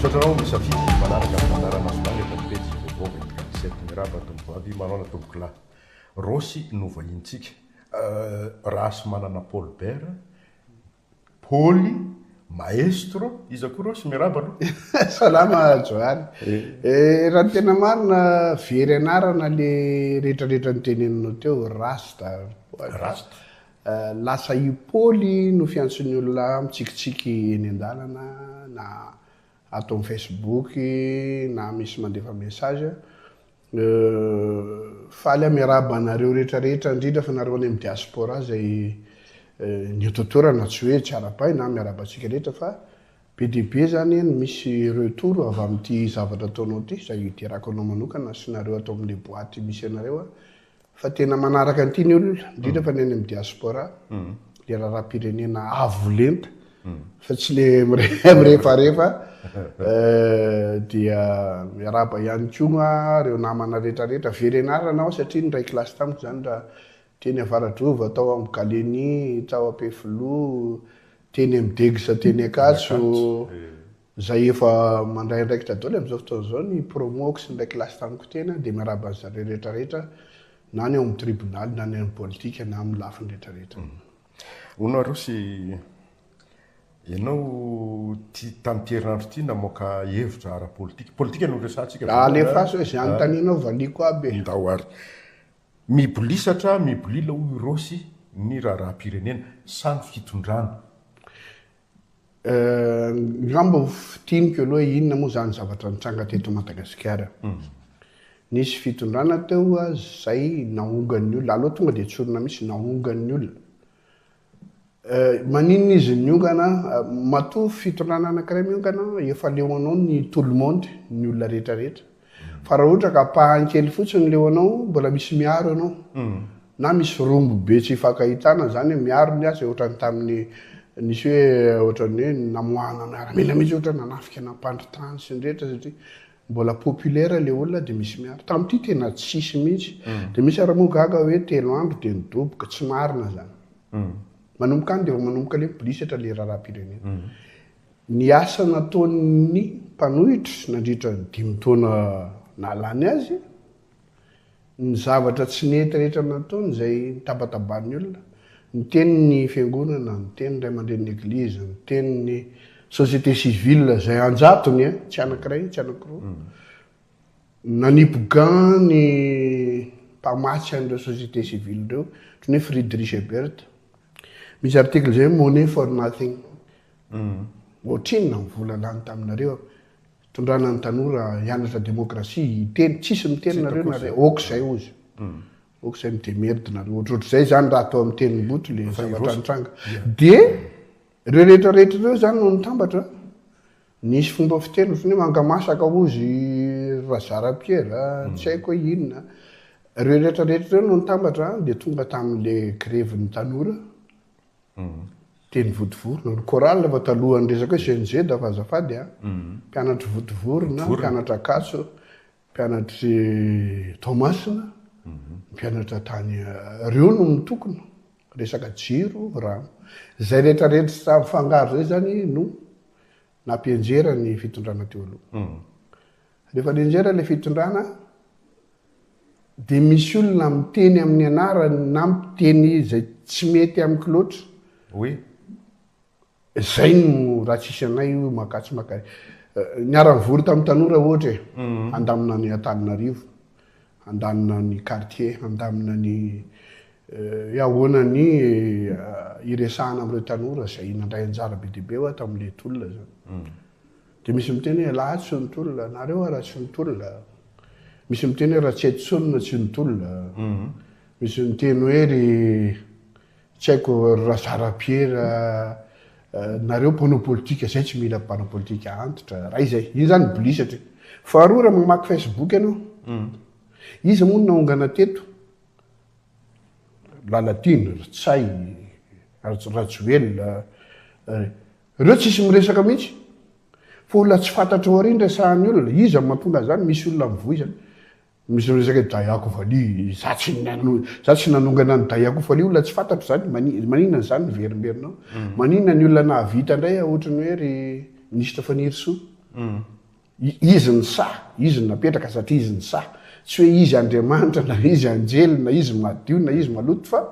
Misaotra anao misafidy ny manaraka ny fandaharanasonao eto amin'ny pejy Vaovao 24 sept. Miarahaba tompoko vavy, manaona tompoko lahy. Rossy no vahinintsika. Euh, Rahasimanana Paul Bert, Paoly, Maestro, iza koa Rossy? Miarahaba aloha. Salama Johany. Eh, raha ny tena marina, very anarana le retraretra noteneninao teo, Rasta. Rasta. Lasa i Paoly no fiantson'ny olona mitsikitsiky eny an-dalana na ato amin'ny Facebook na misy mandefa message. Faly aho miarahaba anareo rehetra rehetra indrindra fa nareo any amin'ny diaspora izay nihototorana tsy hoe tsy arabaina an, miarahaba antsika rehetra fa be dia be izany ny misy retour avy amin'ity zavatra ataonao ity izay iterako anao manokana sy nareo ato amin'ny boaty misy anareo an. Fa tena manaraka an'ity ny olona, indrindra fa ny any amin'ny diaspora, mm. le raharaham-pirenena avo lenta, mm. fa tsy le mirefarefa, eh, dia miaraba ihany koa reo namana rehetrarehetra, very anarana aho satria ny ray kilasy tamiko zany raha teny Avaradrova, tao amin'ny Galeni, tao Ampefiloha, teny amin'ny Degisa, teny Akatso, eh. izay efa mandray andraikitra daholo amin'izao fotoana izao ny promo-ko sy ny iray kilasy tamiko tena dia miarahaba an'izy zareo rehetra rehetra na ny ao amin'ny tribonaly na ny amin'ny politika na amin'ny lafiny rehetra rehetra. Mm. Hono Arosy, ianao ty tamin'ity herinandro ity namoaka hevitra ara-politika. Politika no resahantsika. Ah, alefaso hoe izay anontanianao ah. valiako aby. Ndao ary. Mibolisatra, mibolila hoy Rosy ny raharaham-pirenena sa ny fitondrana? Ngamba ho fintiniko aloha inona moa izany zavatra nitranga teto Madagasikara. Nisy fitondrana teo izay naongan'ny olona, aloha tonga dia tsorina mihitsy, naongan'ny olona. Maninona izy niongana? Matoa fitondrana anankiray miongana, efa leo anao ny tout le monde, ny olona rehetrarehetra. Fa raha ohatra ka ampahany kely fotsiny leo anao, mbola misy miaro anao. Na misy rombo be tsy ifankahitana, izany hoe miaro ny asa e, ohatran'ny tamin'ny nisy hoe ohatran'ny hoe namoahana miaramila mihitsy ohatra nanafika nampandry tany sy ny rehetra satria mbola populaire le olona dia misy miaro. Tamin'ity tena tsisy mihitsy. Dia misy ary moa gaga hoe telo andro dia nidoboka, tsy marina izany. Manomboka any dia vao manomboka le mibolisatra le raharaham-pirenena. Ny asa nataon'ny mpanohitra nandritra ny dimy taona nahalany azy, ny zavatra tsy nety rehetra nataony izay nitabataban'ny olona, ny tenin'ny fiangonana, ny tenin'ny ray aman-drenin'ny eglizy, ny tenin'ny société civile izay an-jatony eh, tsy anankiray, tsy anankiroa, nanipy gants ny mpamatsy an'ireo société civile ireo, ohatran'ny hoe Friedrich Ebert. Misy article izay hoe Money for nothing, Ohatrinona ny vola lany taminareo hitondrana ny tanora hianatra demokrasia, hiteny, tsisy miteny nareo na ray, ok zay ozy, ok zay mi demerde nareo, ohatrohatr'izay zany raha atao amin'ny tenimbotry le zavatra nitranga. Dia ireo rehetra rehetra ireo zany no nitambatra, nisy fomba fiteny ohatran'ny hoe mangamasaka ozy Razara Pierre, tsy haiko hoe inona, ireo rehetra rehetra ireo no nitambatra dia tonga tamin'le grevin'ny tanora, Teny Votovory, ny chorale fa talohan'ny resaka hoe CNZ fa azafady a, mpianatr'i Votovory na mpianatrak'Ankatso, mpianatr'i Toamasina, mpianatra tany, reo no mitokona, resaka jiro, rano. Zay rehetra rehetra mifangaro zay zany no nampianjera ny fitondrana teo aloha. Rehefa nianjera ilay fitondrana dia misy olona miteny amin'ny anarany na miteny izay tsy mety amiko loatra. Oui. Izay no raha tsisy anay io maka tsy maka. Euh, niara-nivory tamin'ny tanora ohatra e. Mm. Handamina ny Antananarivo, handamina ny quartier, handamina ny euh, ahoana ny euh, iresahana amin'ireo tanora izay nandray anjara be dia be hoa tamin'ilay tolona izany. Mm. Dia misy miteny hoe elah tsy nitolona, nareo ara tsy nitolona. Misy miteny hoe Ratsietosonina tsy nitolona. Mhm. Misy miteny hoe ry tsy haiko ry Razarapiera eh, nareo mpanao politika zay tsy mila mpanao politika antitra. Raha izay, iny zany bli satria. Faharoa raha mamaky Facebook ianao, mhm. iza moa no naongana teto? Lalatiana, Ritsay, Rajoelina, eh, Reo tsisy miresaka mihitsy. Fa olona tsy fantatro ao aoriany resahan'ny olona. Iza no mahatonga an'izany? Misy olona mivoy zany. Misy miresaka hoe Dayako Vali, za tsy nano, za tsy nanongana an'i Dayako Vali, olona tsy fantatro zany. Mani, maninona izany ny verimberinao? Maninona ny olona nahavita indray ohatrany hoe ry Ministra Fanirisoa? Izy ny saha, Izy no napetraka satria Izy ny saha. Tsy hoe Izy Andriamanitra na Izy anjely na Izy madio na Izy maloto fa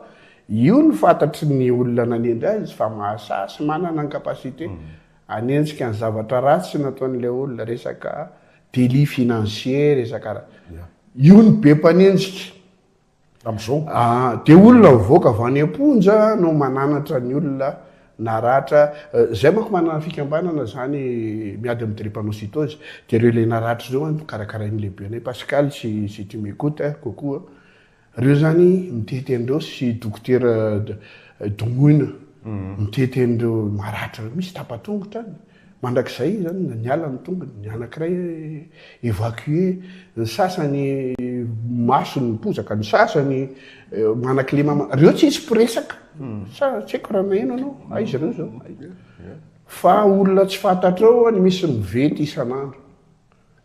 io no fantatry ny olona nanendry Azy fa mahasaha sy manana ny capacité hanenjika ny zavatra ratsy nataon'ilay olona, resaka délit financier, resaka raha. Io no be mpanenjika. amin'izao. Dia olona mivoaka avy any am-ponja no mananatra ny olona naratra. Izay manko manana fikambanana izany miady amin'ny drépanocytose. Dia ireo ilay naratra ireo an, karakarain'ny lehibenay Pascal sy sy tu m'ecoute hein, coucou an. Ireo izany mitety an'ireo sy dokotera Domoina mitety an'ireo maratra ireo. Misy tapa-tongotra any. Mandrakizay izany niala ny tongony, ny anankiray evacué, ny sasany masony mipozaka, ny sasany manakilema, ireo tsy hisy mpiresaka. Sa tsy haiko raha naheno anao, aiza ireo izao? Fa olona tsy fantatrao any misy mivety isan'andro.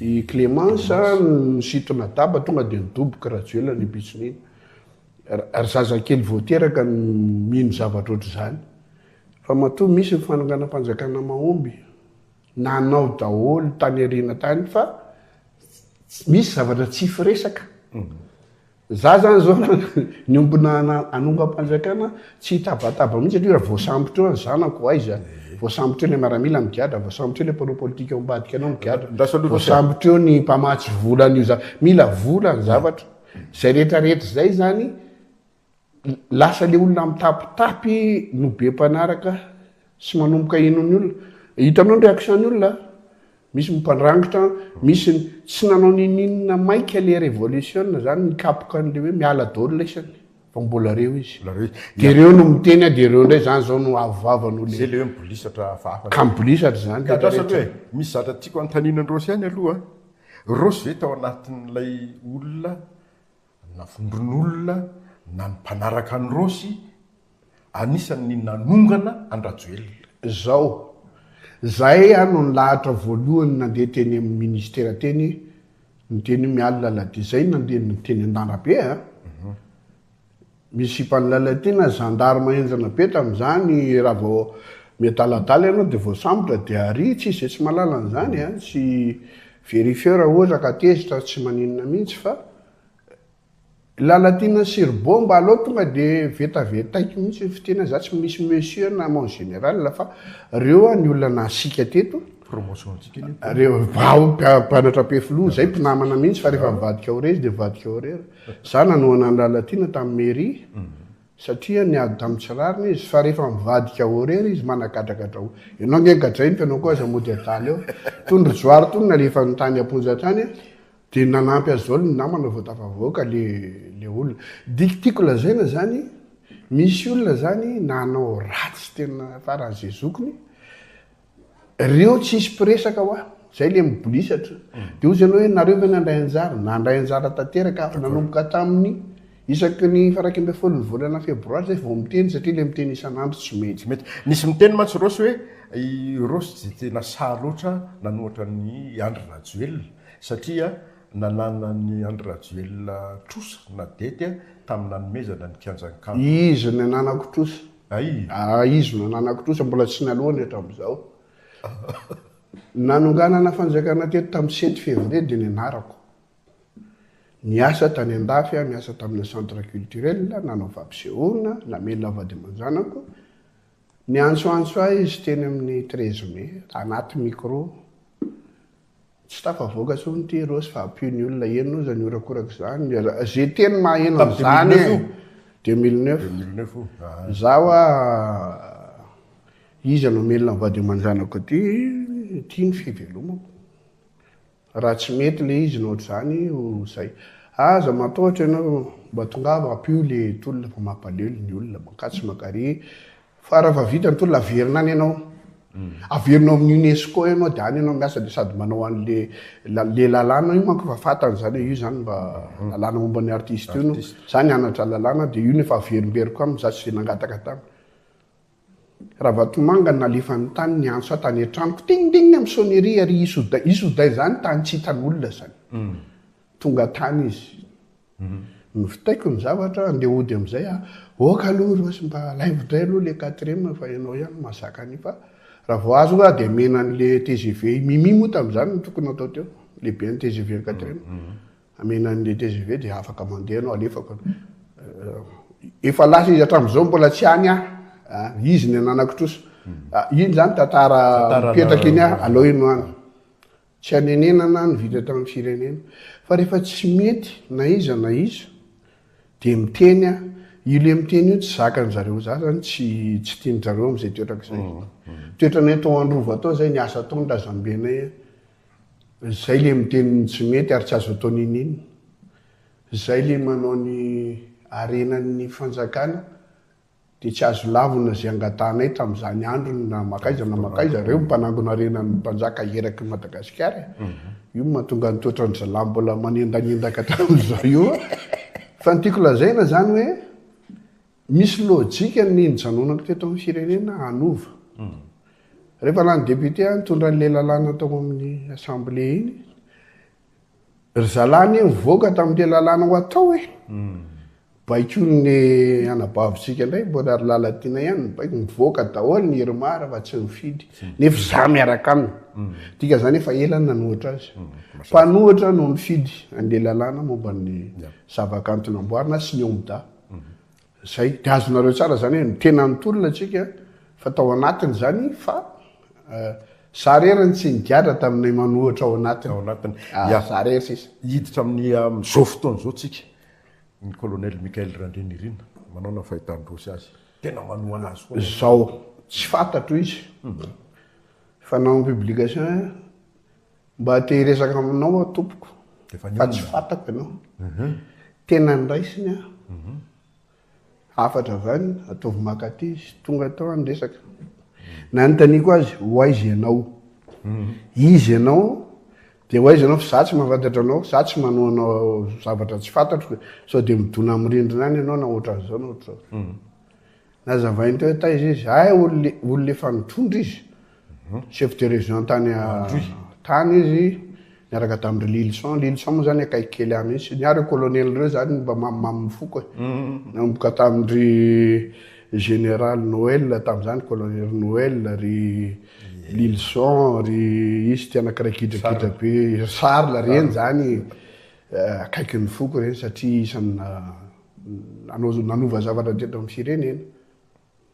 I Clémence nisitry Madaba tonga dia nidoboky Rajoelina ny pitson'iny. Ary zazakely vao teraka no mino zavatra ohatr'izany. Fa matoa misy ny fanonganam-panjakana mahomby. Nanao daholo tany aoriana tany fa misy zavatra tsy firesaka. Za zany zao raha niombona hanongam-panjakana tsy hitabataba mihitsy satria raha voasambotra eo ny zanako aiza? Voasambotra eo ilay miaramila migadra, voasambotra eo ilay mpanao politika ao ambadika anao migadra, voasambotra eo ny mpamatsy vola an'io za. Mila vola ny zavatra. Izay rehetra rehetra izay zany lasa ilay olona mitapitapy no be mpanaraka sy manomboka hino ny olona. Hitanao ny réaction ny olona a? Misy mpandrangitra, misy ny tsy nanao ninininona maika le revolisiona zany nikapoka an'le hoe miala daholo laisany fa mbola reo izy. Mbola reo izy. Dia reo no miteny a, dia reo ndray zany zao no avoavo an'olona. Zay le hoe mibolisatra hafahafa. Ka mibolisatra zany le rehetra. Andrasako hoe, misy zatra tiako hanontaniana an'i Rosy ihany aloha a. Rosy ve tao anatin'ilay olona na vondron'olona na ny mpanaraka an'i Rosy, anisan'ny nanongana an-dRajoelina. Zao. Zahay aho no nilahatra voalohany nandeha teny amin'ny ministera teny niteny hoe miala lalana dia zay nandeha niteny an-dandrabe a! Misy sipan'i Lalatiana, gendarme henjana be tamin'izany, raha vao miadaladala ianao dia voasambotra dia aria, tsy izay tsy mahalala an'izany a! Tsy verifieur ohatra ka tezitra tsy maninona mihitsy fa. Lalatiana sy rbo mba aleo tonga de vetavetaiko mihitsy ny fiteny za tsy misy monsieur na mon général fa reo a ny olona nahasika teto promotion tsika anie ko reo vao mpianatra pe filoha zay mpinamana mihitsy fa rehefa mivadika ho rezy de vadika ho rera za nanohana ny lalatiana tam mairie satria niady tam tsy rariny izy fa rehefa mivadika ho rera izy managadragadra ho enao nge gadrainy fa enao ko aza mody adala eo tony ry johary tony nalefany tany aponja tany Dia nanampy azy izao ny namana vao tafavoaka ilay olona. Dia tiako lazaina izany, misy olona izany nanao ratsy tena faran'izay zokiny, reo tsy hisy mpiresaka hoa, izay ilay mibolisatra. Dia hozy ianao hoe nareo ve nandray anjara? Nandray anjara tanteraka avy nanomboka tamin'ny isaky ny faraika ambin'ny folo ny volana febroary izay vao miteny satria ilay miteny isan'andro tsy mety. Nisy miteny mantsy Rossy hoe i Rossy dia tena sahy loatra nanohatra an'i Andry Rajoelina. Satria nananan'i Andry Rajoelina trosa na dette tamin'ny nanomezana ny kianjan'i Kanto. Izy no nananako trosa. Ay. Aa izy no nananako trosa, mbola tsy naloany hatramizao. Nanonganana fanjakana teto tamin'ny sept février dia nianarako. Niasa tany andafy aho, niasa tamina centre culturel, nanao fampisehoana, namelona vady aman-janako. Niantsoantso ahy izy teny amin'ny treize mai, anaty micro. Tsy tafavoaka intsony ity Rossy fa ampio ny olona eny hoy izy ny horakoraka izany. Izay teny maheno an'izany e. 2009. 2009 io. Izaho hoa iza no hamelona ny vady aman-janako aty, ity ny fivelomako. Raha tsy mety ilay izy na ohatr'izany ho izay. Aza matahotra ianao, mba tongava ampio ilay tolona fa mampalahelo ny olona, mankatso mankarỳ, Fa raha fa vita ny tolona averina any ianao. Averina ao amin'ny UNESCO ianao dia any ianao miasa dia sady manao an'le la- le lalàna io manko efa fantany izany hoe io izany mba lalàna momba ny artiste io no za nianatra lalàna dia io no efa averimberiko aminy za tsy dia nangataka taminy. Ravatomanga nalefany tany ny antso ahy tany an-tranoko ting ting amin'ny sonnerie ary hisy oday hisy oday izany tany tsy hitan'olona izany. Tonga tany izy. Novitaiko ny zavatra, andeha hody amin'izay aho. Ok aloha Rose mba alaivo indray aloha ilay quatrième fa ianao ihany no mahazaka an'io fa raha vao azo nga dia amena an'ilay tgv. I Mimi moa tamin'izany no tokony hatao teo, lehibe ny tgv ny quatrième. Amena an'ilay tgv dia afaka mandeha ianao, alefako aloha. Efa lasa izy hatramin'izao mbola tsy any aho. Izy ny ananako trosa. Iny izany tantara mipetraka iny aho, aleo ianao any. Tsy anenenana ny vita tamin'ny firenena. Fa rehefa tsy mety na iza na iza dia miteny a. Io le miteny io tsy zakany zareo. Za zany tsy tsy tiany zareo amzay toetra kzay. Toetranay tao Androva tao zay ny asa ataony razambenay a. Zay le miteny ny tsy mety ary tsy azo atao niniana. Zay le manao ny harenan'ny fanjakana Dia tsy azo lavina izay angatahanay tamin'izany andro ny na makaiza na makaiza ireo mpanangona harena ny mpanjaka eraky ny Madagasikara e! Io no mahatonga ny toetra ny zalahy mbola manendanyendaka hatramin'izao io a! Fa ny tiako lazaina izany hoe misy lojika ny nijanonako teto amin'ny firenena hanova. Rehefa lany député aho nitondra an'ilay lalàna tao amin'ny assemblée iny, Ry zalahy anie nivoaka tamin'ilay lalàna ho atao e. Baikon'ny anabavintsika indray mbola ry Lalatiana ihany ny baiko. Nivoaka daholo ny Irmar fa tsy nifidy. Nefa izaho miaraka aminy. Mm. Dika izany efa ela nanohitra azy. Mm, Mpanohitra no nifidy an'ilay lalàna momba ny zavakanto namboarina sy ny Omda. Mm. Zay. De azonareo tsara zany hoe ny tena nitolona tsika fa tao anatiny zany fa za rery ny tsy nigadra taminay manohitra ao anatiny. Ao anatiny. Ya. Za rery sisa. Hiditra amin'ny amin'izao fotoana izao tsika ny colonel Michael Randrianirina manao na fahitan-drosy azy. Tena manohana azy koa. Zao. Tsy fantatro izy. Fanao ny publication. Mba te hiresaka aminao aho tompoko fa tsy fatako ianao. Mhm. Tena niraisiny aho. Mhm. Hafatra avy any, ataovy makaty izy. Tonga tao aho niresaka. Mhm. Nanontaniako azy, ho aiza ianao? Izy ianao? Dia ho aiza ianao? Fa za tsy mahafantatra anao, za tsy manoa anao zavatra tsy fantatro. Sao dia midona amin'ny rindrina any ianao na ohatran'izao na ohatr'izao. Nazavainy teo taiza izy, hay olona efa nitondra izy. Chef de région tany tany izy niaraka tamin-dry Lilison. Lilison moa zany akaiky kely ahy mihitsy. Ny ahy reo colonel reo zany mba mamimamy ny foko e. Nanomboka tamin-dry général Noël tamin'izany, colonel Noël, ry Lilison, ry izy ty anankiray gidragidra be, ry Charles, reny zany akaiky ny foko reny satria isan'ny nanova zavatra teto amin'ny firenena.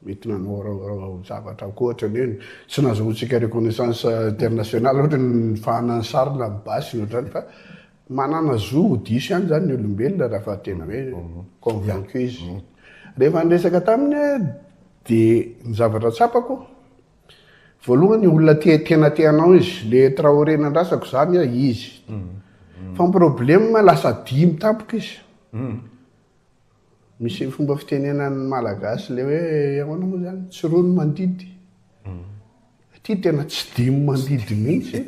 mety nanao zavatra ankohatra ny hoe tsy nahazoantsika reconnaissance internationale ohatra ny nifahana ny sarina amin'ny basy ny ohatrany fa manana zo ho diso ihany zany ny olombelona raha fa tena hoe convaincu izy mhm. rehefa niresaka taminy de ny zavatra tsapako voalohany olona te tena teanao izy le traoré nandrasako zany a izy mhm. Mhm. fa ny problème lasa dimy tampoka izy Misy fomba fitenenan'ny Malagasy ilay hoe ahoana moa izany? Tsy roa ny mandidy. Aty tena tsy dimy mandidy mihitsy.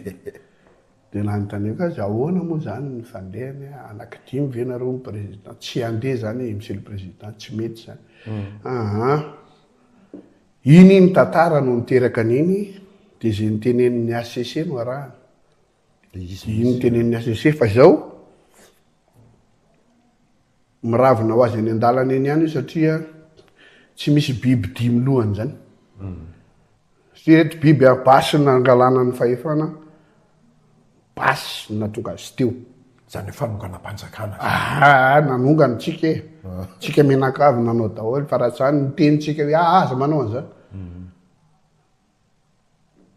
Dia nanontaniako azy, ahoana moa izany ny fandehany? Anaky dimy ve nareo ny président? Tsy handeha izany Monsieur le Président, tsy mety izany. Aha. Iny iny tantara no niteraka an'iny, dia izay notenenin'ny HCC no arahana. Io notenenin'i Azy Josefa izao, miravona ho azy eny an-dalana eny ihany io satria tsy misy biby dimy lohany izany. Hmm. Satria reto biby a, basy nangalana ny fahefana, basy natonga azy teo. Izany fanonganam-panjakana. Ah, nanongana tsika e. Ah. Tsika menakavy nanao daholo, fa raha izany ny tenintsika hoe ah, aza manao an'izany. Hmm.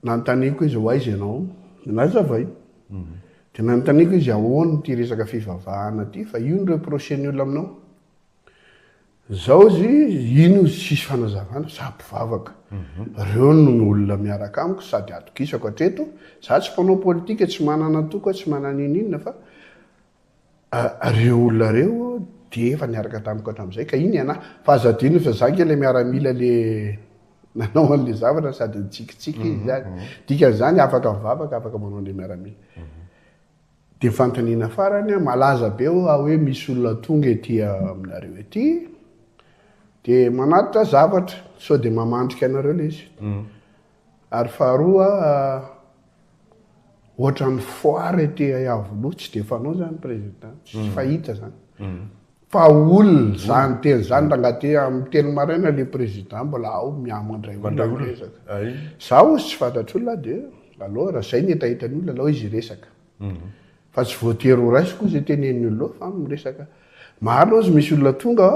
Nanontaniako izy hoe aiza ianao? Nazavay. Dia nanontaniako izy ahoana ity resaka fivavahana ity fa io no reprocher ny olona aminao. Zao izy iny hozy tsisy fanazavana za mpivavaka. Reo no olona miaraka amiko sady atogisako hatreto, za tsy mpanao politika, tsy manana antoko aho, tsy manana ininona fa Ireo olona ireo dia efa niaraka tamiko hatramin'izay ka iny ianà. Fa aza adino fa izaho ange ilay miaramila ilay nanao an'ilay zavatra sady nitsikitsiky izy ihany. Dikan'izany afaka mivavaka, afaka manao an'ilay miaramila. Dia fanontaniana farany, malaza be hoa hoe misy olona tonga ety aminareo ety dia manatitra zavatra sao dia mamandrika anareo ilay izy. Ary faharoa, ohatran'ny foire ety Iavoloha, tsy dia fanao zany président, tsy mm. fahita zany. Mm. Fa olona mm. zany teny zany ranga ty amin'ny telo maraina le président mbola ao miamana indray olona miresaka. Zaho tsy fantatr'olona dia alora zay ny etahetan'olona alao izy resaka. Fa tsy voatery ho raisiko hoy izay tenenin'i Olona fa amin'ny resaka maro loatra misy olona tonga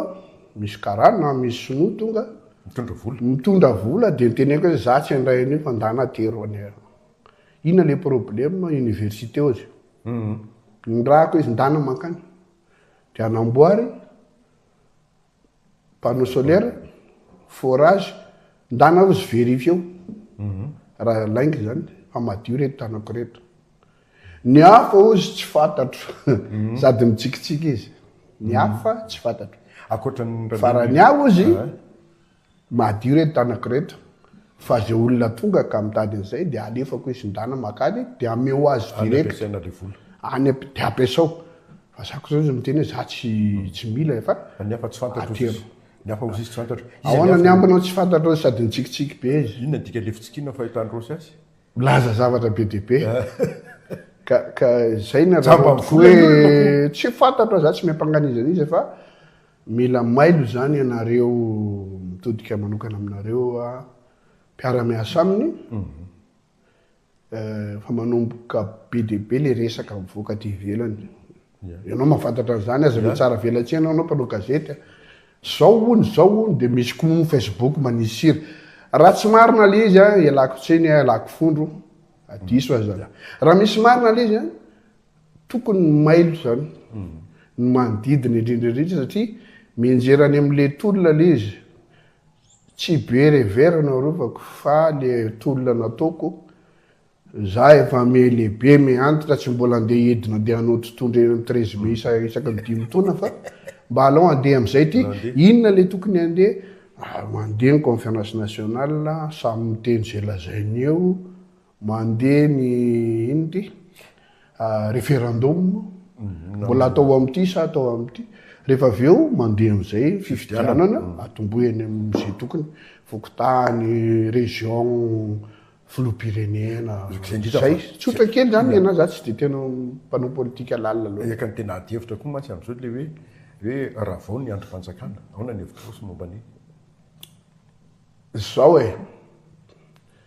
misy karana na misy sinoa tonga mitondra vola mitondra vola dia niteneniko hoe za tsy handray an'io fa ndana atero any inona le problème université ozy mhm. nirahako izy ndana mankany dia anamboary panneau solaire, forage, ndana ozy vérifier eo mhm. raha lainga zany fa madio reto tanako reto. Ny hafa ozy tsy fantatro mhm. sady mitsikitsiky izy. Ny mhm. hafa tsy fantatro. Akoatran'ny farany aho ozy Madio reto tanako reto fa ze olona tonga ka mitady an'izay dia alefako hoe sindrana makany dia ameo azy direct any dia ampiasao fa za koa zao izy miteny hoe za tsy tsy mila e fa ny hafa tsy fantatro izy ny hafa ozizy tsy fantatro ahoana ny ambinao tsy fantatro izy sady nitsikitsiky be izy inona ny dikany le fitsikina fahitany rosy azy milaza zavatra be dia be ka ka zay ny raha hoe tsy fantatro za tsy miampanga an'iza n'iza fa Mila mailo izany ianareo mitodika manokana aminareo mpiara-miasa aminy fa manomboka be dia be ilay resaka mivoaka aty ivelany. Ianao mahafantatra an'izany, aza ve tsara velatsihy ianao, ianao mpanao gazety. Zao hono, zao hono, dia misy koa Facebook manisy sira. Raha tsy marina ilay izy, ialako tsiny, ialako fondro, diso aza. Raha misy marina ilay izy, Tokony ny mailo izany ny manodidina indrindra indrindra satria mianjera any amin'ilay tolona aloha izy. Tsy be revers no arovako fa ilay tolona nataoko. Izaho efa miha lehibe, miha antitra, tsy mbola handeha hidina handeha hanao totohondry eny amin'ny treize mai isa- isaky ny dimy taona fa mba alao handeha amin'izay ty. Inona ilay tokony handeha? Mandeha ny conférence nationale, samy miteny izay lazainy eo. Mandeha ny inn ity? referendum mbola atao amin'ity sa atao amin'ity? Rehefa avy eo mandeha amin'izay fifidianana atombohy any amin'izay tokony, fokontany, région, filoham-pirenena, izay. Tsotra kely izany ny an'ahy, izaho tsy dia tena mpanao politika lalina loatra. Eka ny tena adihevitra koa mantsy amin'izao ilay hoe hoe ravao ny andrim-panjakana. Ahoana ny hevitrao sy momba ny. Izao e.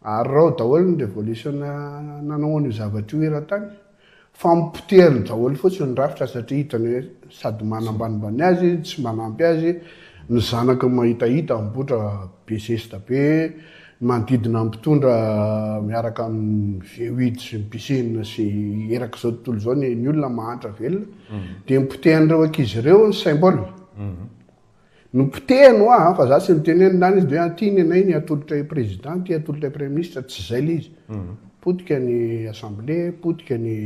Arirao daholo ny revolution nanao an'io zavatra io eran-tany fa poteriny daholo fotsiny ny rafitra satria hitany hoe sady manambanimbany azy izy, tsy manampy azy, ny zanakiny mahitahita mipoitra be zesta be, ny manodidina ny mpitondra miaraka amin'ny VUID sy ny BCIN sy erak'izao tontolo izao ny olona mahantra velona dia ny potehan'ireo ankizy ireo ny symbole. Nopotehiny hoa an, fa za tsy niteny hoe nilana izy de hoe an ty ny anay ny atolotra i président ty atolotra i premier ministre tsy zay le izy. Potika ny assemblée, potika ny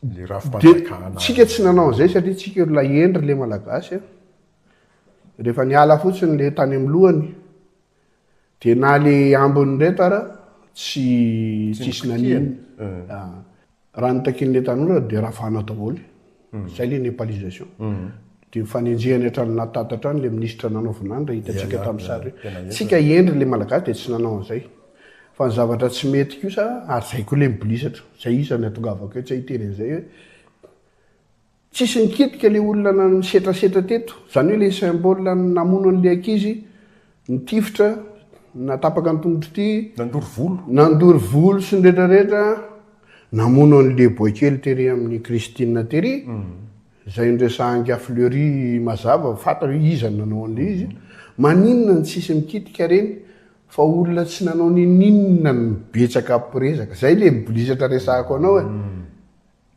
Ny rafi-panjakana. Dia tsika tsy nanao an'izay satria tsika olona hendry le malagasy an. Rehefa niala fotsiny le tany amin'ny lohany. Dia na le ambiny reto ara tsy tsisy nanino. Ah. Raha ny takian'ilay tanora dia ravana daholo. Hmm. Zay le nepalisation. Hmm. Dia mifanenjehany hatrany na tata hatrany le minisitra nanaovana any raha hitantsika tamin'ny sary. Tsika hendry le malagasy dia tsy nanao an'izay. Fa ny zavatra tsy mety kosa ary zay koa le mibolisatra. Zay isan'ny atongavako etsy ahiteny an'izay hoe. Tsisy nikitika le olona nisetrasetra teto, zany hoe le symbole namono anle ankizy nitifitra natapaka ny tongotro ity, Nandoro volo. nandoro volo sy ny retraretra, namono anle boaikely tery aminy Christine tery, zay niresahangy à Fleury mazava fantatra hoe iza no nanao anle izy, maninona no tsisy mikitika reny fa olona tsy nanao ninoninona no betsaka mpirezaka, zay le mbolisatra resahako anao e.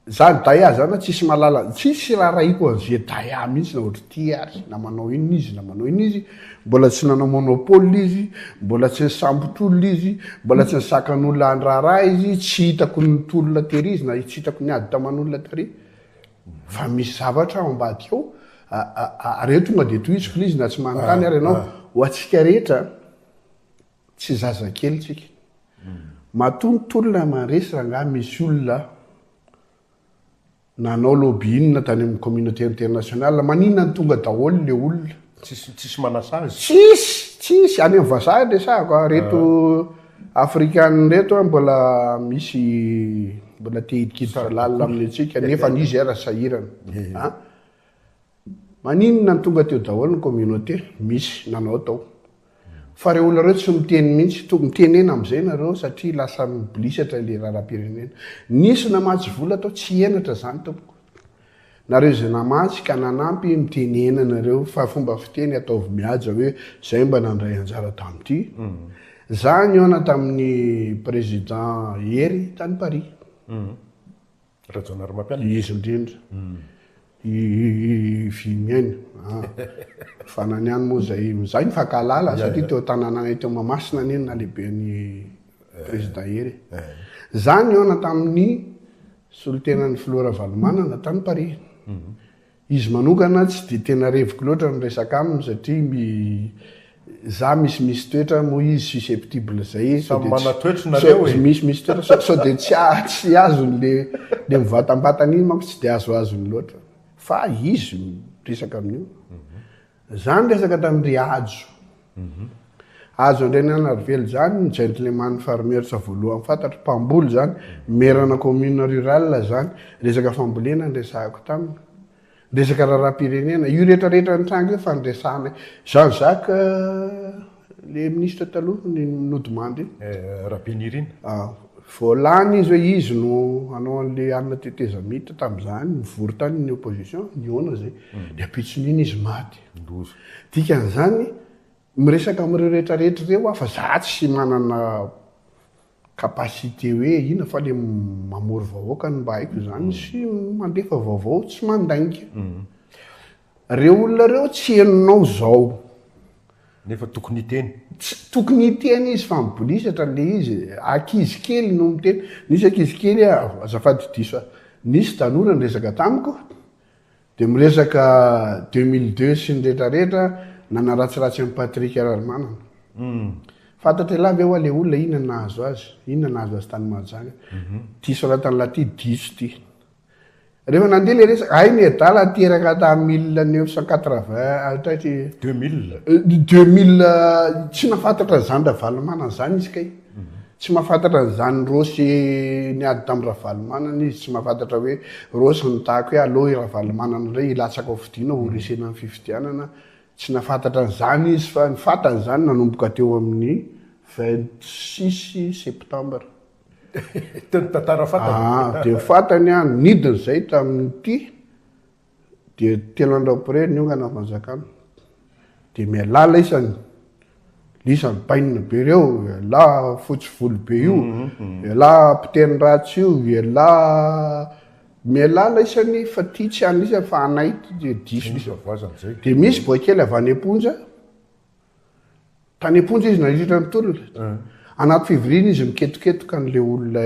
Za ry Daya zany tsisy malala, tsisy raharahiako an'i vieux Daya mihitsy na ohatr'ity ary, na manao inona izy na manao inona izy, mbola tsy nanao monopole izy, mbola tsy nisambotr'olona izy, mbola tsy nisakan'olona handraharaha izy, tsy hitako ny tolona tery izy na tsy hitako niady taman'olona tary fa misy zavatra ao ambadika ao ary eo tonga dia tohiziko ilay izy na tsy manontany ary ianao, ho antsika rehetra. Tsy zazakely tsika. Matoa ny tolona mandresy rangahy misy olona nanao lobbying tany amin'ny communauté internationale. Maninona no tonga daholo le olona? Tsisy tsisy manasazy. Tsisy, tsisy any amin'ny vazaha ny resahako a. Reto ah. african reto a mbola misy mbola te hidikiditra lalina amin'ny antsika nefa ny izy ara sahirana. Eh. A. Maninona no tonga teo daholo ny communauté? Misy nanao tao. Fa reo olona reo tsy miteny mintsy, to mitenena amzay nareo satria lasa miblisatra le raharaham-pirenena. Nisy namatsy vola tao tsy henatra zany tompoko. Nareo izay namatsy ka nanampy mitenena nareo fa fomba fiteny ataovy mihaja hoe zay mba nandray anjara tamty. Za nihaona taminy Président Hery tany Paris. Rajaonarimampianina. Izy indrindra. I Vimiaina a. Fa na ny any moa izay izay mifankahalala satria teo Tanananay teo Mahamasina anie ny nalehiben'i Président Hery e. Izaho nihaona tamin'ny solontenan'ny Filoha Ravalomanana tany Paris. Izy manokana tsy dia tena reviko loatra ny resaka aminy satria mi za misy misy toetra moa izy susceptible zay izy Samy manatoetry nareo e. Misy misy toetra sao sao dia tsy a tsy azony le le mivatambatana iny manko tsy dia azoazony loatra fa izy miresaka amin'io Za niresaka tamin-dry Hajo. Hajo Andriananarivelo zany ny gentleman farmersa voalohany fantatro, mpamboly zany, merana commune rurale zany. Resaka fambolena niresahako taminy. Resaka raharaham-pirenena. Io rehetrarehetra nitranga io fa niresahanay. Jean Jacques. Le ministra taloha ny nodimandry. Rabenirina. Voalany izy hoe izy no hanao an'le anona tetezamita tamin'izany, nivory tany ny opposition, nihaona izay, dia ampitson'iny izy maty. Loza. Dikan'izany, miresaka amin'ireo rehetra rehetra ireo aho fa za tsy manana capacité hoe inona fa le mamory vahoaka no mba haiko izany sy mandefa vaovao tsy mandainga. Reo olona reo tsy henonao zao. Nefa tokony hiteny. Tsy tokony hiteny izy fa mibolisatra le izy. Ankizy kely no miteny. Nisy ankizy kely azafady diso a. Nisy tanora niresaka tamiko de miresaka deux mille deux sy ny rehetra rehetra nanaratsiratsy an'i Patrick Rarimanana. Fantatr'elah ve oa le olona inona nahazo azy? Inona nahazo azy tany Mahajanga? Ty soratan'lah ty diso ty. Rehefa nandeha ilay resaka, hay ny adala teraka tamin'ny mille neuf cent quatre-vingts hatra tsy Deux mille. Euh, deux mille euh, tsy nahafantatra an'izany Ravalomanana izany izy kay. Tsy mahafantatra an'izany Rosy niady tamin'ny Ravalomanana izy, tsy mahafantatra hoe Rosy nitahaka hoe aleo i Ravalomanana indray hilatsaka ao fidiana horesena ny fifidianana. Tsy nahafantatra an'izany izy fa ny fantany izany nanomboka teo amin'ny vingt six septembre. Teo ny tantara fantany. Ah, dia fantany an, nidina izay tamin'ity, dia telo andro après niongana fanjakana. Dia mialala isany, lisany bainina be ireo, ialahy fotsy volo be io, mhm, mhm. ialahy mpiteny ratsy io, ialahy mialala isany fa ty tsy an'isa fa anay ty dia diso. Dia misy boakely avy any am-ponja. Tany am-ponja izy nandritra ny tolona. Anaty fivoriana izy miketoketoka an'ilay olona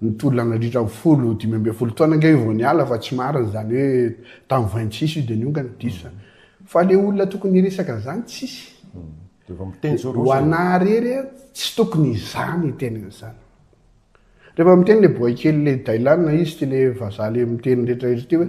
nitolona nandritra ny folo dimy ambin'ny folo taona ange io vao niala fa tsy marina izany hoe tamin'ny vingt six io dia niongana, diso izany. Fa ilay olona tokony hiresaka an'izany tsisy. Ho anà irery, tsy tokony izany hiteny an'izany. Rehefa miteny le boay kely le Dylan izy ty le vazaha le miteny rehetra rehetra ty hoe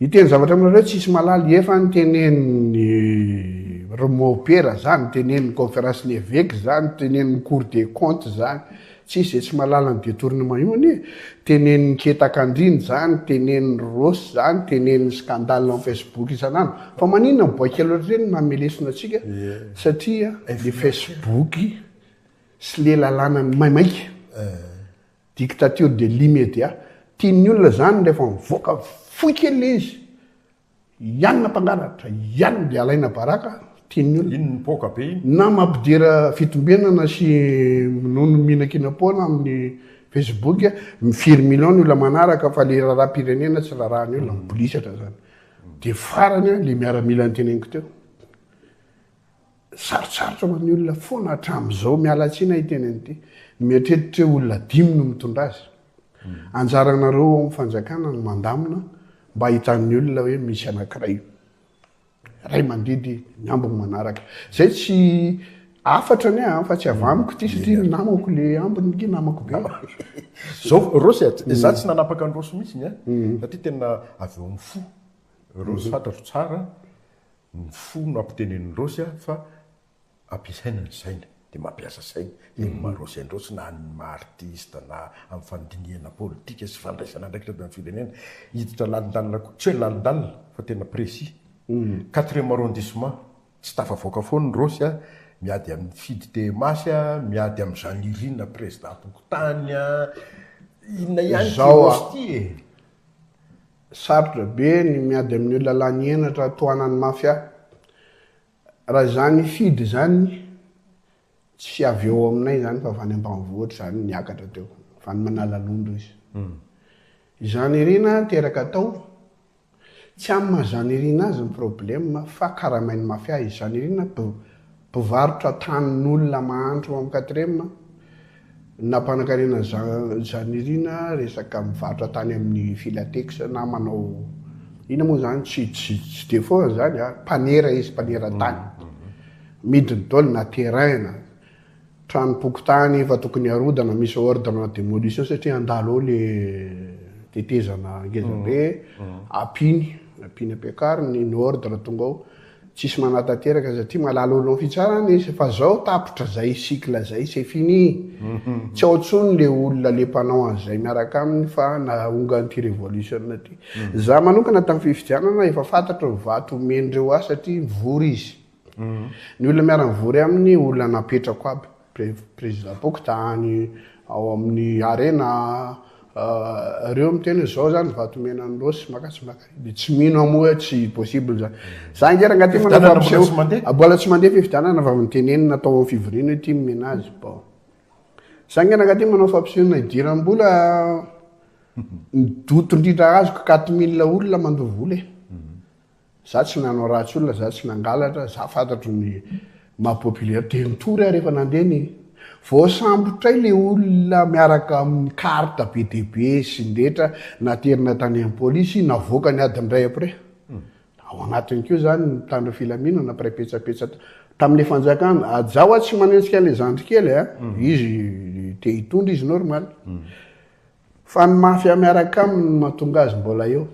hiteny zavatra aminareo tsisy malaly efa niteneniny Romopera zany, teneniny conférence ny évêque zany, teneniny cour des comptes zany, tsisy zay tsy malala ny detournement io anie, teneniny ketaka andriny zany, teneniny Rossy zany, teneniny scandale en Facebook isan'andro. Fa maninona boay kely ohatr'ireny no mamelesona antsika satria le Facebook sy le lalàna ny maimaika dictature de l'immédiat tian'ny olona zany rehefa mivoaka fohy kely le izy ianona mpangalatra ianona de alaina baraka tian'ny olona iny mipoaka be iny na mampidera fitombenana sy minono mihinankinam-poana amin'ny facebook mifiry million ny olona manaraka fa le raharaham-pirenena tsy raharahan'ny olona mibolisatra zany de farany le miaramila niteneniko teo Sarotsarotra ho an'ny olona foana hatramin'izao, miala tsiny aho hiteny an'ity, ny mieritreritra hoe olona dimy no mitondra azy. Anjaranareo ao amin'ny fanjakana no mandamina mba hahitan'ny olona hoe misy anankiray ray mandidy ny ambiny manaraka. Izay tsy hafatra anie an, fa tsy avy amiko ity satria ny namako le ambiny ity namako be. Zao Rossy a, za mm. tsy nanapaka an'i Rossy mihitsy ny a, mm. satria tena avy ao amin'ny fo. Rossy mm-hmm. fantatro tsara. ny fo no ampitenenin'i Rosy a fa ampiasaina ny saina dia mampiasa saina eo ny maha Rosy an'i Rosy na ny maha artista na amin'ny fandinihana politika sy fandraisana andraikitra avy amin'ny firenena hiditra lalindalina koa tsy hoe lalindalina fa tena précis quatrième arrondissement tsy tafavoaka foana i Rosy a miady amin'ny fidy TMH a miady amin'i Janirina président am-pokontany a inona ihany ity Rosy ity e. Sarotra be ny miady amin'io lalàn'ny henatra tohanan'ny mafia. Raha izany fidy izany, tsy avy eo aminay izany fa avy any ambanivohitra izany niakatra teo, avy any Manalalondo izy. Izany irina teraka atao, tsy amin'ny maha izany irina azy ny problème fa karamain'ny mafia izy. Izany irina Mpivarotra tanin'olona mahantra ao amin'ny quatrième nampanankarena izany irina resaka mivarotra tany amin'ny Filatex na manao inona moa izany tsy tsy tsy dia foana izany a, mpanera izy, mpanera tany. Midiny daholo na terrain na tranom-pokontany efa tokony harodana misy ordre en démolition satria handalo ao le tetezana ngezabe, ampiny, ampiny ampiakariny ny ordre tonga ao. Tsisy manatanteraka satria malala olom fitsarana izy fa zao tapitra zay cycle zay c'est fini tsy ao tsony le olona le mpanao anzay miaraka aminy fa nahongan ty revolution ty za manokana tam fifidianana efa fantatro ny vato omen dreo ahy satria mivory izy ny olona miara mivory aminy olona napetrako aby Président Pokotany ao amin'ny Arena reo miteny hoe zao zany vato mena ny Rossy maka tsy maka dia tsy mino aho moa hoe tsy possible zany. Za nge rangaha ty manao fampisehoana mbola tsy mandeha fifidianana fa mitenenina atao amin'ny fivoriana hoe ty nomena azy bon. Za nge rangaha ty manao fampisehoana idiram-bola ny doto indrindra azoko quatre mille olona mandoa vola e. Za tsy nanao ratsy olona, za tsy nangalatra, za fantatro ny maha populaire, dia nitory aho rehefa nandeha ny. Voasambotray le olona miaraka amin'ny carte be dia be sy ny rehetra, naterina tany amin'ny polisy, navoakany adiny iray après. Ao anatiny koa zany ny mpitandro filaminana, mpiray petsapetsa tamin'le fanjakana, za hoa tsy manenjika an'le zandry kely a, izy te hitondra izy normal, fa ny mafia miaraka aminy no mahatonga azy mbola eo.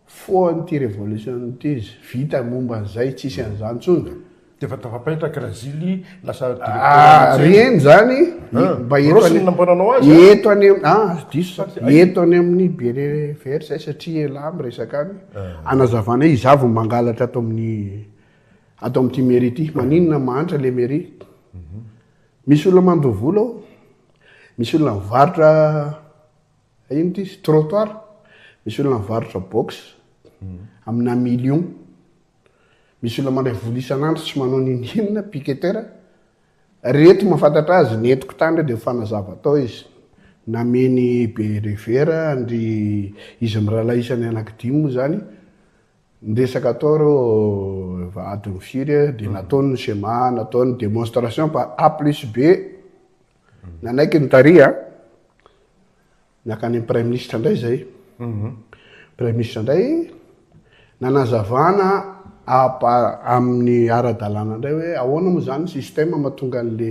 Foan ity revolution ity izy vita momba an'izay tsisy an'izany intsony ka. D'efa tafapetraka Brazily lasa Ah reny zany mba eto any eto any ah aza diso sa eto any amin'ny berere vert zay satria elah miresaka any anazavana hoe izaho vao mangalatra ato amin'ny ato amin'ity mairie ity maninona mahantra le mairie misy olona mandoa vola ao misy olona mivarotra Ino ity? Trottoir? Misy olona mivarotra box amina million. Misy olona mandray vola isan'andro tsy manao n'inon'inona, picketer. Ry eto mahafantatra azy, ny entiko tany dia fanazava tao izy. Namen'i Be Revera an-dry izy mirahalahy isany anaky dimy moa izany ny resaka tao ireo adin'ny firy dia nataony ny CMA, nataony demonstration par A plus B. Nanaiky ny tary a. Nakany amin'ny praiminisitra indray izay. Mhm. Praiminisitra indray nanazavana amin'ny ara-dalàna indray hoe ahoana moa izany système mahatonga an'le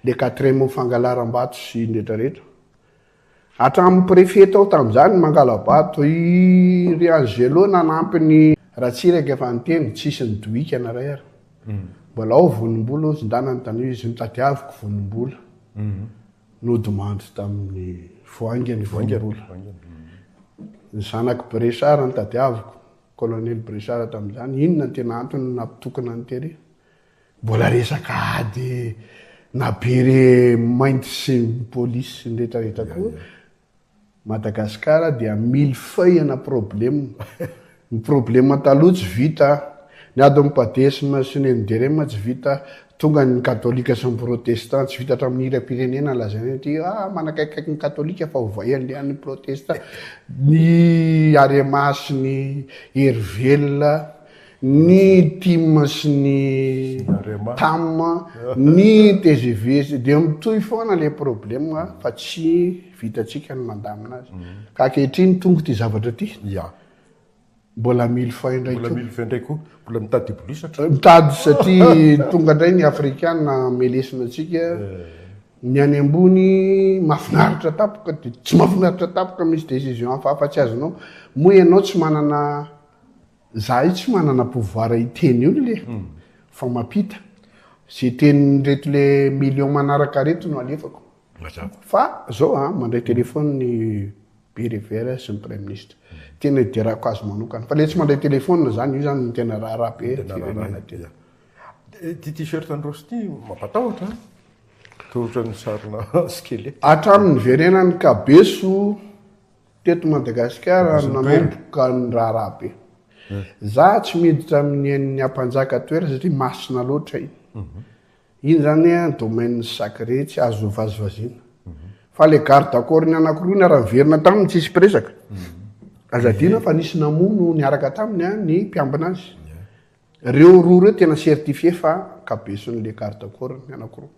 le quatrième fangalaram-bato sy ny rehetrarehetra. Hatramin'ny préfet tao tamin'izany ny Mangalabato. I ry Angelo nanampy ny Ratsiraka efa niteny, tsisy ny dohika na iray ary. Mbola ao Vonimbola hozy ndana ny tany izy notadiaviko Vonimbola. Nodimandry tamin'ny Voaingany i Vonimbola. Ny zanak'i Brechard notadiaviko, Colonel Brechard tamin'izany, inona ny tena antony nampitokona an'i Terry? Mbola resaka ady na be re mainty sy ny police sy ny rehetra rehetra koa. Madagascar dia mille feuille na problème. Ny problème taloha tsy vita. Ny ady ny padesme sy ny NDRM tsy vita. Tonga ny katolika sy ny protestant tsy vita hatramin'ny hiram pirenena lazaina hoe ty ah manakaikikaiky ny katolika fa ovay andeha ny protestant. Ny arema sy ny hery velona. ny tim sy ny tam, ny tgv dia mitohy foana ilay problème fa tsy vitantsika ny mandamina azy. Ka ankehitriny tonga ity zavatra ity. Ya. Mbola mily fay indray koa. Mbola mily fay indray koa. Mbola mitady hibolisatra. Mitady satria tonga indray ny afrikana melesina antsika. Eh. Ny any ambony mahafinaritra tapoka dia tsy mahafinaritra tapoka misy décision hafahafa tsy azonao. Moa ianao tsy manana Zahay tsy manana pouvoir hiteny olona e, fa mampita. Ze tenin'ireto le millions manaraka reto no alefako. Mazava. Fa zao a, mandray téléphone ny be revers sy ny praiminisitra. Tena iderako azy manokana. Fa le tsy mandray téléphone zany, io zany no tena raharaha be ny firenena tena. Ity t-shirt an'i Rossy ity mampatahotra an! Toa ohatran'ny sarina skeleta. Hatramin'ny niverenan'i Kabeso. Teto Madagasikara no nanomboka ny raharaha be. Za tsy miditra amin'ny ain'ny ampanjaka toerana satria masina loatra iny. Iny zany domaine sacré tsy azo vazivaziana. Fa le garde corps ny anankiroa niara-niverina taminy tsisy mpiresaka. Aza adino fa nisy namono niaraka taminy ny mpiambina azy. Reo roa reo tena certifier fa kabesin'le garde corps ny anankiroa.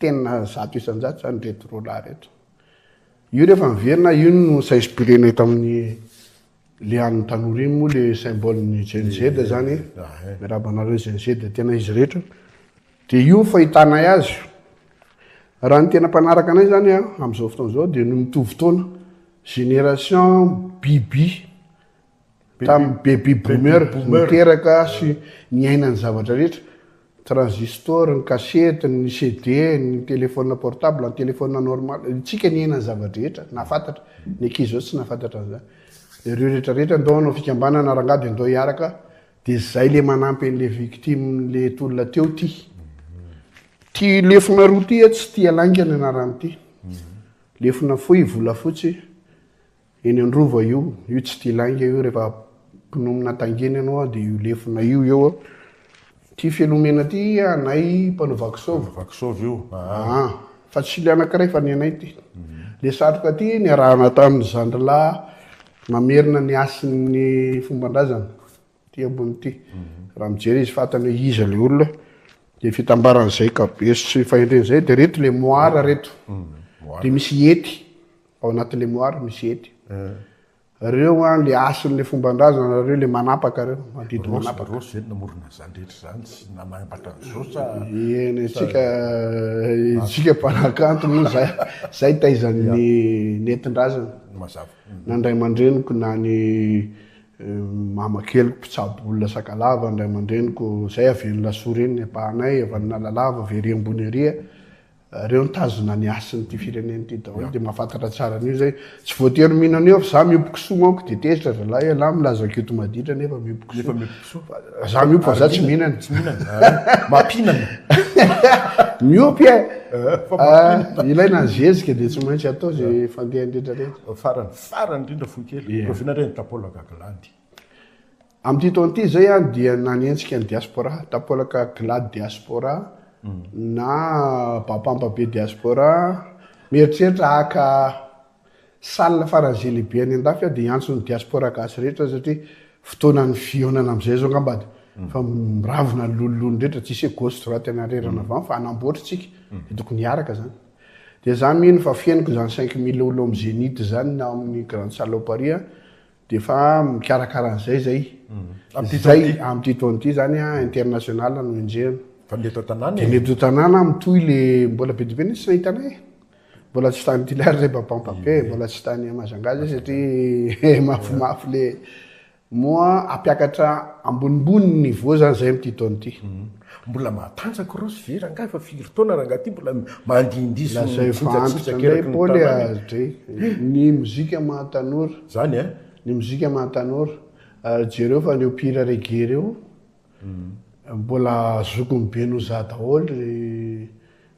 Tena zato isan-jato izany ireto roalahy ireto. Io rehefa miverina, io no s'inspirer-na eto amin'ny lian'ny tanora iny moa le symbole ny Gen Z izany. Eh. Ah, eh. Miarahaba anareo Gen Z, tena izy rehetra. Dia io fahitanay azy. Raha ny tena mpanaraka anay izany ah, amin'izao fotoana izao dia ny mitovy taona, génération bibi. Tamin'ny baby boomer niteraka sy niaina ny zavatra rehetra, transistor, ny kasety, ny CD, ny téléphone portable, ny téléphone normal, isika niaina ny zava-drehetra, nahafantatra. Ny ankizy izao tsy nahafantatra an'izany. Ireo rehetra rehetra ndao hanao fikambanana rangah dia ndao hiaraka, dia izay le manampy an'le victime le tolona teo ty. Ty lefona roa ty tsy tia lainga ny anaran'ity. Lefona fohy, volafotsy, Eny an-drova io, io tsy tia lainga io rehefa mpinonomna tangeny ianao a dia io lefona io eo a. Ty Felomena ty anay mpanao vakisôva. Vakisôva io aa. Fa tsy le anankiray fa ny anay ty. Le satroka ty niarahana tamin'ny zandrilahy mamerina ny hasin'ny fomban-drazana ty ambony ty. Raha mijery izy fantany hoe iza le olona. Dia fitambaran'izay kabesy sy fahendren'izay dia reto le moara reto. Dia misy hety. ao anaty lemoara misy hety. Reo an le hasin'le fomban-drazana reo le manapaka reo, mandidy manapaka. Rose zay namorona an'zany rehetra zany sy nanambatra an'zao sa? Eny tsika tsika mpanakanto moa zay zay taizan'ny nentin-drazana. Mazava. Na ndray aman-dreniko na ny mama keliko mpitsabo olona sakalava, ndray aman-dreniko zay avy eny Lasoa reny ny ampahanay, avy any Analalava, avy ery ambony ery a. Reo nitazona ny hasin ty firenena ty daholo de mahafantatra tsara anio zay. Tsy voatery mino anio fa za miompy kisoa manko de tezitra zalahy ialahy milaza kioty maditra nefa miompy kisoa. Nefa miompy kisoa. Za miompy fa za tsy mihinana. Tsy mihinana. Mampinana. Miompy e. Ah, ilaina ny zezika de tsy maintsy atao ze fandehany retraretra. Farany farany indrindra fohy kely, rahoviana re ny tapolaka glandy. Amin'ity taona ity izay an, dia nanenjika ny diaspora, tampolaka Glad Diaspora, na Bapamba Be Diaspora, mieritreritra haka salle faran'ny Zilibe any an-dafy aho dia hiantso ny diaspora gasy rehetra satria fotoanan'ny fihaonana amin'izay izao angamba dia fa miravona ny lololony rehetra, tsy hisy hoe gauche droite any arerana avy any fa hanamboatra isika, dia tokony hiaraka izany. Dia izaho mino fa fihenoko izany cinq mille olo amin'ny Zenith izany na ao amin'ny Grande Salle ao Paris an, Dia efa mikarakara an'izay izay. Amin'ity taona ity. Izay, amin'ity taona ity izany an, international no enjehina. Fa ny eto an-tanàna Dia e. ny eto an-tanàna mitohy le, mbola be dia be mihitsy tsy nahita anay e. Mbola tsy tany Toliara izay Bapampapé, mbola tsy tany Mahajanga izay satria mafimafy le. Moa hampiakatra ambonimbony ny niveau izany izay amin'ity taona ity. Mbola mahatanjaka Rossy ve rangahy fa firy taona rangahy ty mbola mandihindihy sy mijinjatsijaka eraky ny tanany. Ny mozika maha tanora. Zany a. Ny mozika maha tanora. Jereo fa reo mpihira reggae reo mbola zokiny be noho za daholo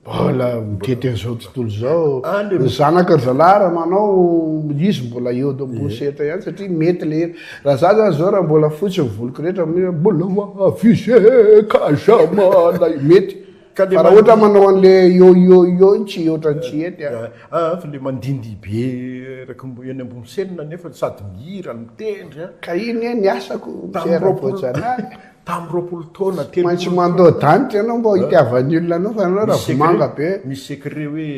Mbola mitety an'izao tontolo izao. Ah, ny zanaka zalahy raha manao izy mbola eo do bouchette eh. ihany satria mety le raha za zany zao raha mbola fotsy ny voliko rehetra mi mbola avise kajama lay mety fa raha ohatra manao an'le yo yo yo iny tsy ohatra ny tsy hety ah. Ah, fa le mandindy be raka eny ambony selina nefa sady mihira mitendry ah. Ka iny eh ny asako, tamin'ny roapolo Tamin'ny roapolo taona, telopolo taona. Tsy maintsy mandoa danitra ianao mba hitiavan'ny olona anao fa ianao ravomanga be. Misy secret hoe.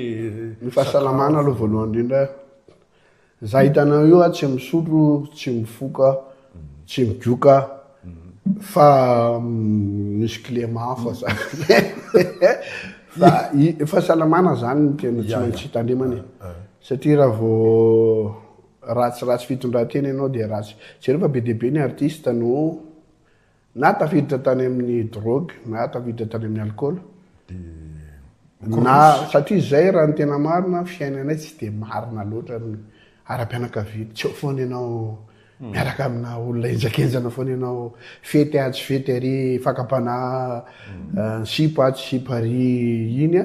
Ny fahasalamana aloha voalohany indrindra. Za hitanao io aho tsy misotro, tsy mifoka, tsy migoka fa misy kilema hafa za. Fa fahasalamana zany no tena tsy maintsy hitandremana e. Satria raha vao. Ratsy ratsy fitondratena ianao dia ratsy. Jereo fa be dia be ny artiste no na tafiditra tany amin'ny drogue na tafiditra tany amin'ny alcool na satria izay raha ny tena marina fiainanay tsy dia marina loatra amin'ny ara-pianakaviana. Tsy eo foana ianao hmm. miaraka amina olona enjakenjana foana ianao fety ahy tsy fety ary fakam-panahy hmm. eh, sipa ahy tsy sipa ary iny a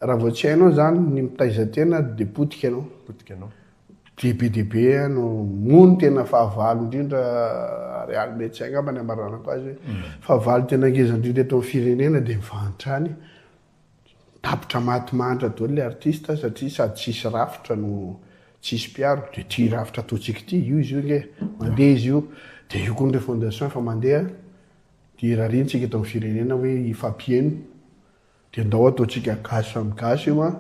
Raha vao tsy hainao zany ny mitaiza tena de potika ianao. Potika ianao. Dia be dia be no moa ny tena fahavalo indrindra ary aly médecin angamba ny hamaranako azy hoe mm. fahavalo tena ngeza indrindra eto amin'ny firenena dia mivahantrany tapitra maty mahantra daholo le artiste satria sady tsisy rafitra no tsisy mpiaro dia ity rafitra ataontsika ity io izy io nge mandeha izy io dia io koa ny refondation efa mandeha dia rariantsika eto amin'ny firenena hoe hifampiheno Dia ndao ataontsika gasy samy gasy io an!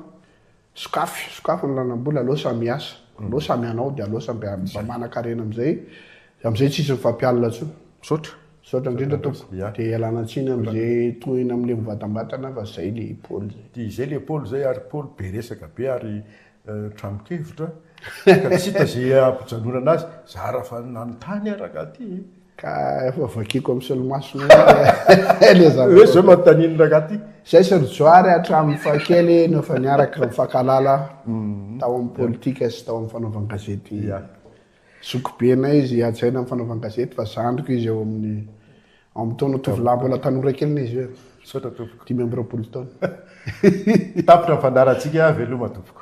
Sokafy, sokafy ny lalam-bola, aleo samy hiasa, aleo samy hanao dia aleo samy mba manan-karena amin'izay, amin'izay tsisy mifampialona intsony. Misaotra. Misaotra indrindra tompoko. Dia ialana tsiny amin'izay tohina amin'ilay mivatambatana fa izay ilay Paoly izay. Dia izay ilay Paoly izay ary Paoly be resaka be ary tranon-kevitra ka tsy hita izay hampijanonana azy, zara fa nanontany aho rangahy ity e! Ka efa vakiko amin'ny solomasony ilay zavatra. Hoe izao manontanian'ny rangahy ity. Izay sy ry Johary hatramin'ny fahakely no efa niaraka nifankahalala mhm. tao amin'ny politika sy tao amin'ny fanaovan-gazety. Zokibenay izy hajaina amin'ny fanaovan-gazety fa zandriko izy eo amin'ny ao amin'ny taona tovolahy mbola tanora kely na izy hoe. Misaotra tompoko. Dimy amby roapolo taona. Tapitra ny fandaharantsika veloma tompoko.